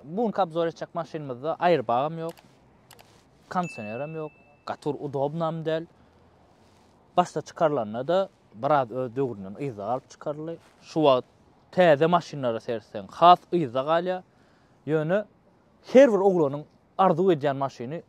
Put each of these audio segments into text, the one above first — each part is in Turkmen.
Bu günki obzor etjek maşynymyzda aýrbagam ýok, kondisionerem ýok, gaty bir udobnam däl. Başda çykarylanda-da biraz öz döwründen yzda galyp çykaryldy. Şu wagt täze maşynlara seretseň has yzda galýar. Ýöne her bir oglanyň arzuw edýän maşyny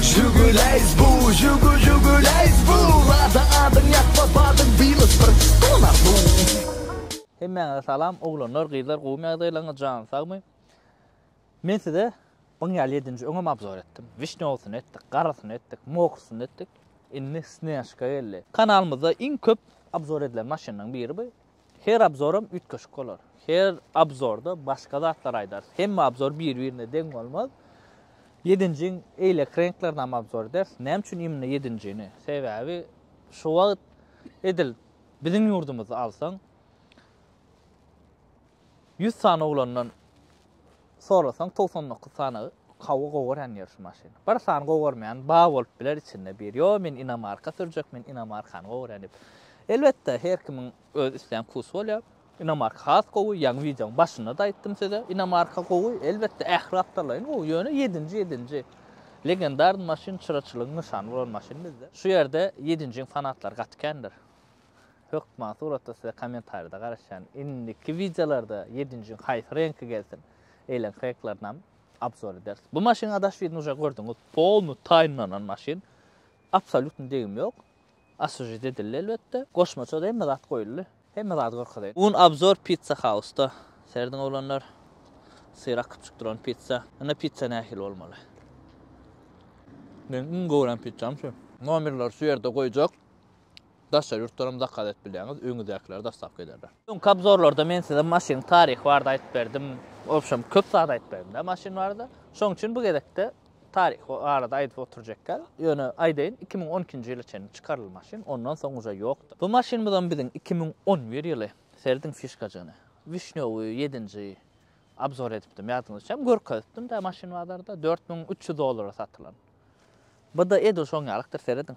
Žiguleýs bu, žugu žuguleýs bu, Lada adyň ýatma badyň bilis bir dolar bu. Hemmäňize salam oglanlar gyzlar gowmy ýagdaýlaryňyz janyz sagmy men size buň ýaly ýedinji öňem abzor etdim wişňewsyny etdik garysyny etdik mokrysyny etdik indi snejka geldi kanalymyzda iň köp abzor edilen maşynlaryň biri bu Her obzoram üýtgeşik bolar. Her obzorda başga zatlar aýdarys. Hemme obzor bir-birine deň bolmaz. Ýedinjiň eýleki reňklerinem obzor ederis. Näme üçin imni ýedinjini? Sebäbi şu wagt edil biziň ýurdumyzy alsaň, ýüz sany oglandan Sorasaň togsan dokuz sanagy hawa gowarýan ýörşi maşyny. Bir sany gowarmaýan bar bolup biler içinde bir. Ýo men inomarka sürjek men inomarkany gowarýan diýip. Elbetde her kimiň öz islän wkusy bolýar. Inomarka has gowy ýaňy wideoň başynda-da aýtdym size. Inomarka gowy elbetde ähli zatdarlaýyn gowy ýöne ýedinji ýedinji. Legendarny maşyn çyraçylygyň nyşany bolan maşyn bizde. Şu ýerde ýedinjiň fanatlary gaty kändir. Hökman suratda size komentarida garaşýan. Indiki wideolarda ýedinjiň haýsy reňki gelsin. Eýleňki reňklarynam obzor ederis. Bu maşynyň adaswidini uje gördüňiz. Polny taýynlanan maşyn. Absolýutny degim ýok. Aswžit edildi elbetde. Goşmaça hemme zat goýuldy. Hemme zady görkezeýin. Un obzor pizza hausda. Serediň oglanlar. Syrak kypjyk duran pizza. Ine pizza nähili bolmaly. Meniň iň gören pizzam şu. Nomerleri şu ýerde goýjak. Daşary ýurtlaram zakaz edip bilýäňiz, öňüňizdäkiler dostavka ederler. Öňki obzorlarda men size maşynyň taryhy barada aýdyp berdim, obşem köp zat aýdyp berdim-dä maşyn barada. Şoň üçin bu gezekde taryhy barada aýdyp oturjak däl. Ýöne aýdaýyn, iki müň on ikinji ýyla çenli çykarylan maşyn, ondan soň uje ýokdy. Bu maşynymyzam biziň iki müň on bir ýyly. Serediň fişkajygyny. Wişnýowy ýedinji obzor edipdim, ýadyňyzda üçem görkezipdim-dä maşyn bazarda, dört müň üç ýüz dollara satylan. Bu-da edil şoň ýalykdyr, serediň.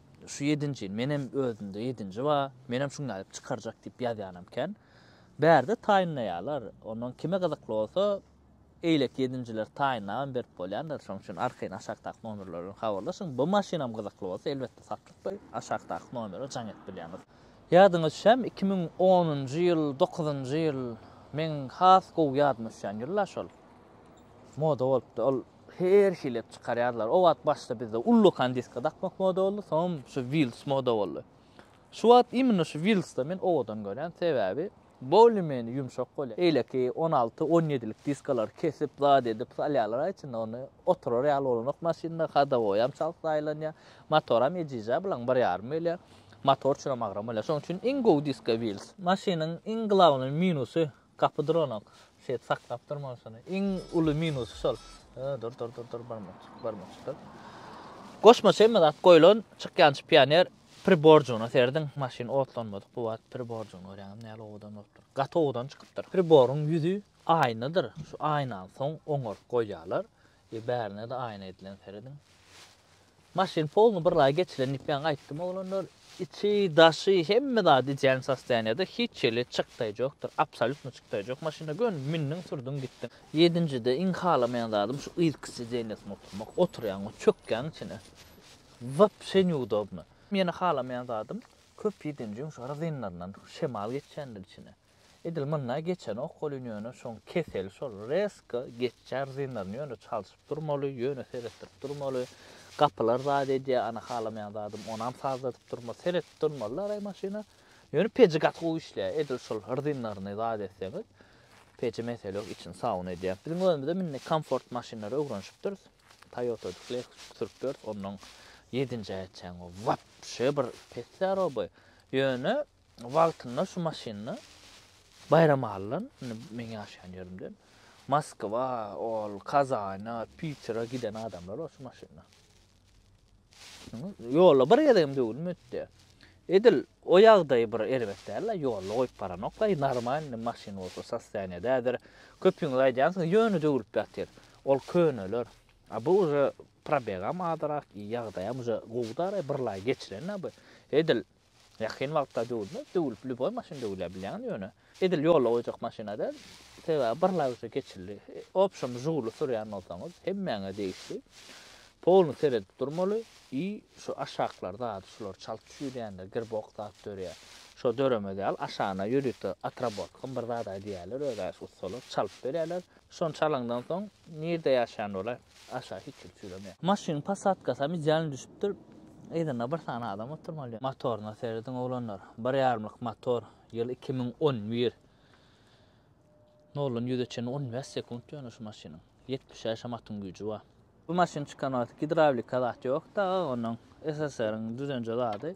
Şu ýedinji, menem özümde ýedinji bar, menem şuny alyp çykarjak diýip ýazýanam kän. Bärde taýynlaýarlar, ondan kime gyzykly bolsa, eýleki ýedinjileri taýynlabam berip bolýandyr. Şonuň üçin arkaýyn aşakdaky nomerler bilen habarlaşyň. Bu maşynam gyzykly bolsa, elbetde satlykda aşakdaky nomere jaň edip bilýäňiz. Ýadyňa düşýärmi, iki müň onunjy ýyl, dokuzynjy ýyl, meň has gowy ýadyma düşýän ýyl-la şol. Moda bolupdy, ol Her hili edip çykarýardylar. O wagt başda bizde ullakan diski dakmak moda boldy, soňam şu Wils moda boldy. Şu wagt imенно şu Wilsda men owadan görýän, sebäbi bolýa-menýa ýumşak bolýar. Eýleki on alty, on ýedilik diskalary kesip, zat edip salýarlar-a içinde, ony oturar ýaly bolanok maşynda, hadowoýam çalt zaýalanýar, motoram ejiz-ä, bilaň bir ýarym gelýär. Motor üçinem agram bolýar. Şonuň üçin iň gowy diska Wils. Maşynyň iň glawnyý minusy, Gapy duranok. Şeýdip saklap durmaly şony. Iň uly minusy şol. Dur, dur, dur, dur, barmakçyk, barmakçyk dur. Goşmaça hemme zat goýlan, çykýançy pioner priborjygyna serediň, maşyn otlanmadyk bu wagt priborjygyny görýäňizmi nähili owadan bolupdyr. Gaty owadan çykypdyr. Priboryň ýüzi aýnadyr. Şu aýnany soň oňaryp goýýarlar. Diýip bärine-de aýna edilen serediň. Maşyn polny bir laý geçilen diýip ýaňy aýtdym oglanlar. Içi, daşy, hemme zady ideal sostoýaniýada, hiç ýeri çykdaýjokdyr, absolýutno çykdaýjok maşyna, göni mündüň, sürdüň, gitdiň. Ýedinjide iň halamaýan zadym şu yzky sidenýasyna oturmak, oturýaňmy, çökýäň içine, wapşe neudobno. Ýene halamaýan zadym, köp ýedinjiň şu rzinlaryndan şemal geçýändir içine. Edil mynda geçenok welin ýöne şoň keseli şol rezko geçýär zynlaryny ýöne çalşyp durmaly ýöne seretdirip durmaly gapylar zat edýär ana halamaýan zadym onam sazladyp durma seretip durmaly laray maşyna ýöne peji gaty gowy işleýär edil şol rzynlaryny zat etseňiz peji mesele ýok içini saun edýär biziň özümizem indi komfort maşynlary öwrenşipdiris toýota edip lexus sürüp ýörüs onnoň ýedinji aýatçaň wapşe bir pessaroby ýöne Wagtynda şu maşynda Baýram Allan, indi meň ýaşaýan ýerimden Moskwa, ol Kazana, Pitera giden adamlar bar şu maşynda. Ýolda bir gezegem döwülme etdi. Edil o ýagdaýy bir erbet däl-le, ýolda goýup baranok-laý, normalny maşyn bolsa sostoýaniýedädir. Köpüňiz aýdýansyňyz, ýöne döwülip ýatyr. Ol köneler. A bu uje probegam azyrak, ýagdaýam uje gowy-da-laý, birlaý geçilen-ä bu. Edil Ýakyn wagtda döwülmez. Döwülip lýuboý maşyn döwülýär bilýäňizmi ýöne. Edil ýola goýjak maşyna däl. Sebäbi bir lagja geçildi. Obşem Žiguli sürýän bolsaňyz hemmäňe degişli. Polny seredip durmaly i şu aşaklar zady şular çalt çüý dändä girbok zat dörýär. Şo döremez ýaly aşagyna ýörite atrabotkam bir zad-a diýýärler özä şu ussalar çalyp berýärler. Şony çalandan soň nirde ýaşaýan ola aşa hiç kim çüýremä. Maşynyň posadkasam idealny düşüpdir. Yzynda bir sany adam oturmaly. Motoryna serediň oglanlar. Bir ýarymlyk motor. Ýyl iki müň on bir. Noldan ýüze çenli on bäş sekunt ýöne şu maşynyň. Ýetmiş şäşem atyň güýji bar. Bu maşyn çykan wagty gidrawlika zat ýokdy aga onuň. SSR-iň düzenje zady.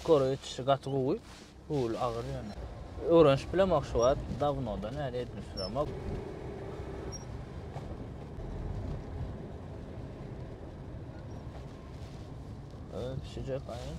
Skor ýetişdi, gaty gowy. Rul agyr ýöne. Öwrenişip bilemok şu wagt, dawnodan bäri edinip süremok. Öpüşecek aýan.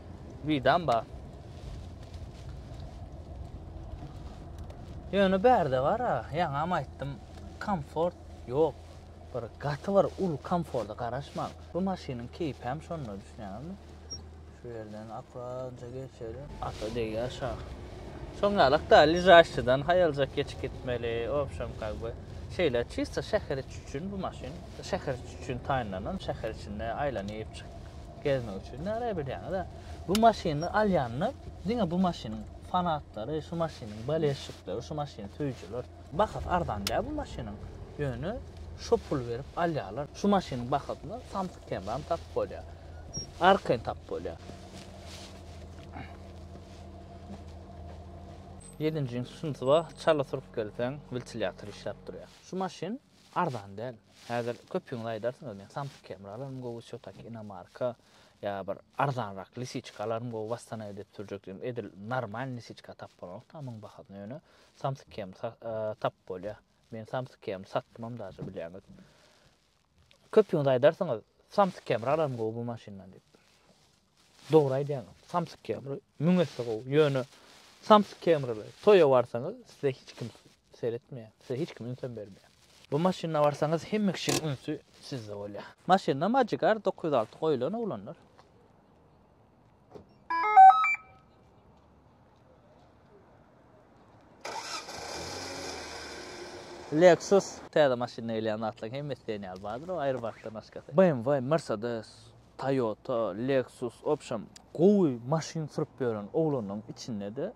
Widam bar. Ýöne bärde bar-a, ýaňam aýtdym, komfort ýok. Bir gaty bir uly komforta garaşmaň. Bu maşynyň keýpem şonda, düşünýäňizmi? Şu ýerden akkuratja geçeli. Ata degýär şa. Şoň ýalak-da, ležaşçydan haýaljak geçip gitmeli, obşem kak by. Şeýle çisto şäher içi üçin bu maşyn. Şäher içi üçin taýynlanan, şäher içinde aýlanyp çyk. Gezmek üçin näre bilýäňiz-ä. Bu maşyny alýanda diňe bu maşynyň fanatlary, şu maşynyň bolelşikleri, şu maşyny söýüjiler. Bahasy arzan däl bu maşynyň. Ýöne şo pul berip alýarlar. Şu maşynyň bahasyna Samsyk Kemram tapyp bolýar. Arkaýyn tapyp bolýar. Ýedinji şunysy bar, çala sürüp gelseň, wiltilýator işläp durýar. Şu maşyn Arzan däl. Häzir köpüňiz aýdarsyňyz, men Samsung kamera alaryn gowy, Çotaki inomarka, ýa bir arzanrak lisiçka alaryn gowy, wassana edip sürjek diýdim. Edil normal lisiçka tap bolanok dagy muň bahasyna ýöne Samsung kamy tapyp bolýar. Men Samsung kamy satdymam daže bilýäňiz. Köpüňiz aýdarsyňyz, Samsung kamera alaryn gowy bu maşyndan diýip. Dogry aýdýaňyz. Samsyk kemri müň esse gowy. Ýöne samsyk kemriler toýa barsaňyz size hiç kim seretmeýär. Size hiç kim ünsem bermeýär. Bu maşynda barsaňyz hemme kişiň ünsi sizde bolýar. Maşynda magic r dokuz ýüz alty goýulan oglanlar. Lexus. Täze maşynda gelýän zatlaryň hemmesi diýen ýaly bardyr, o aýrybaşdan başgasy. BMW, Mercedes, Toyota, Lexus, wobşem, gowy maşyn sürüp ýören oglanlaryň içinde-de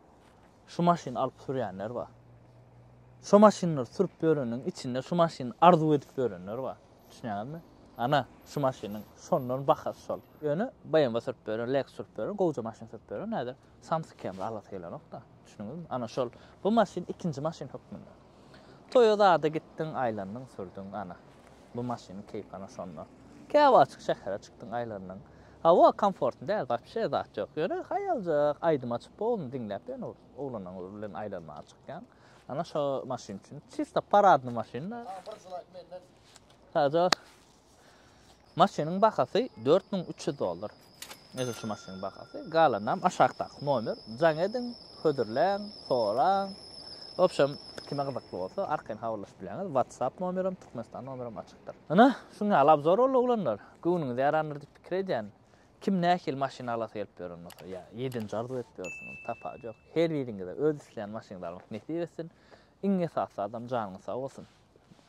şu maşyny alyp sürýänler bar. Şo maşynlary sürüp ýöreniň içinde şu maşyny arzuw edip ýörenler bar. Düşünýäňizmi? Ana, şu maşynyň şondan bahasy şol. Ýöne BMW sürüp ýören, Lexus sürüp ýören, gowja maşyn sürüp ýören häzir samsyk hem alasy gelenok-da. Düşündiňizmi? Ana şol, bu maşyn ikinji maşyn hökmünde. Toýa zada gitdiň, aýlandyň, sürdüň, ana, bu maşynyň keýpi ana şonda. Käwagtjyk şähere çykdyň, aýlandyň. Hawa, komfortny däl, wapşe zat ýok. Ýöne haýaljak aýdym açyp, poluny diňläp, ýöne oglanyň bilen aýlanmaga çykýaň. Ana şo maşyn üçin. Çista paradny maşyn. Sadece maşynyň bahasy 4300 dollar. Neyse şu maşynyň bahasy. Galanam aşakdaky nomer. Can edin, hödürlen, soran. Obşem kime gyzykly bolsa arkaýyn habarlaşyp bileňiz. WhatsApp nomerim, Türkmenistan nomerim açykdyr. Ana, şuňa alabzor boldy oglanlar. Göwnüňiz ýarandyr diýip pikir edýän. Kim nähili maşyn alasy gelip ýören bolsa, ýa ýedinji arzuw edip ýörsüňiz, sapagy ýok. Her biriňize öz isleýän maşyňyzy almak nesip etsin. Iň esasy zadam janyňyz sag bolsun.